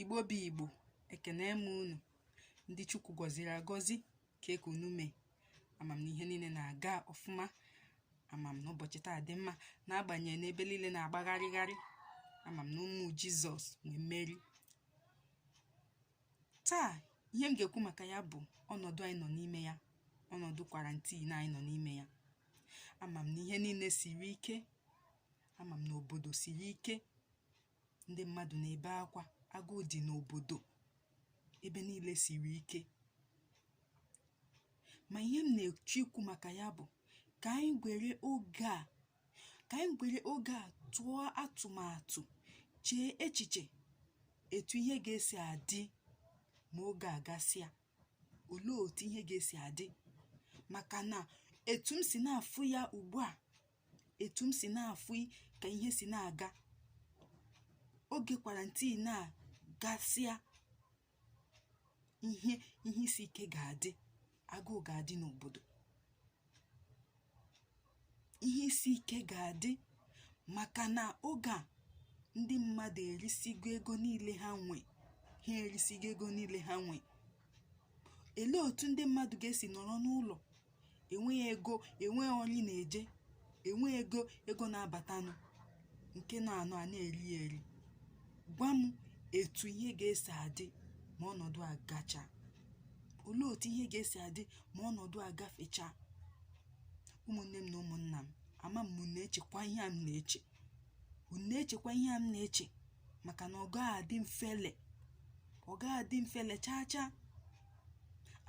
igbo bụ igbo ekene m unu ndị chukwu gọziri agọzi kee ka unu mee ama m na ihe niile na-aga ọfụma ama m na ụbọchị taa dị mma n'agbanyeghị na ebe niile na-agbagharịgharị ama m na ụmụ jizọs nwe mmeri taa ihe m ga-ekwu maka ya bụ ọnọdụ anyị nọ n'ime ya ọnọdụ kwarantin anyị nọ n'ime ya ama m na ihe niile siri ike ama m na obodo siri ike ndị mmadụ na-ebe akwa agụụ dị n'obodo ebe niile siri ike ma ihe m na-eche ikwu maka ya bụ ka anyị gwere oge a ka anyị gwere oge a tụọ atụmatụ chee echiche etu ihe ga-esi adị ma oge a gasịa olee otu ihe ga-esi adị maka na etu m si na-afụ ya ugbu a etu m si na-afụ ka ihe si na-aga oge kwarantin a gasịa ihe ihe isi ike ga-adị agụụ ga-adị n'obodo ihe isi ike ga-adị maka na oge a ndị mmadụ erisigo ego niile ha nwe ha erisigo ego niile ha nwe elee otu ndị mmadụ ga-esi nọrọ n'ụlọ enweghị ego enweghị ọrụ ị na-eje enweghị ego ego na-abatanụ nke nọ anọ a na-eri ya eri gwa m etu ihe ga-esi adị ma ọnọdụ a gacha olee otu ihe ga-esi adị ma ọnọdụ a gafecha ụmụnne m na ụmụnna m ama m unu na-echekwa ihe a m na-eche unu na-echekwa ihe a m na-eche maka na ọ gaghị adị mfele ọ gaghị adị mfele chaa chaa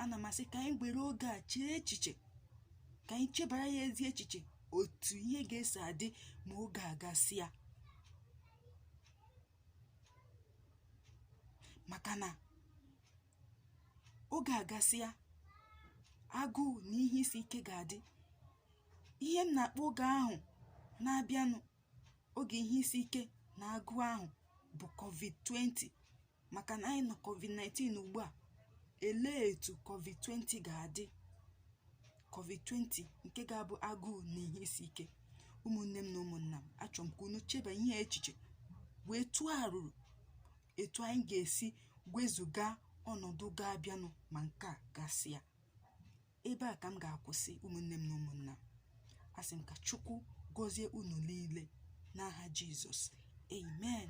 ana m asị ka anyị were oge a chee echiche ka anyị chebara ya ezi echiche otu ihe ga-esi adị ma oge a gasịa maka na oge a gasịa agụụ na ihe isi ike ga-adị ihe m na-akpọ oge ahụ na-abịanụ oge ihe isi ike na agụụ ahụ bụ covid-20 maka na anyị nọ covid-19 ugbu a elee etu covid-20 ga-adị covid-20 nke ga-abụ agụụ na ihe isi ike ụmụnne m na ụmụnna m achọrọ m ka unu cheba ihe echiche wee tụọ arụrụ etu anyị ga-esi wezuga ọnọdụ ga-abịanụ ma nke a gasịa ebe a ka m ga-akwụsị ụmụnne m na ụmụnna asị m ka chukwu gọzie unu niile n'aha jizọs amen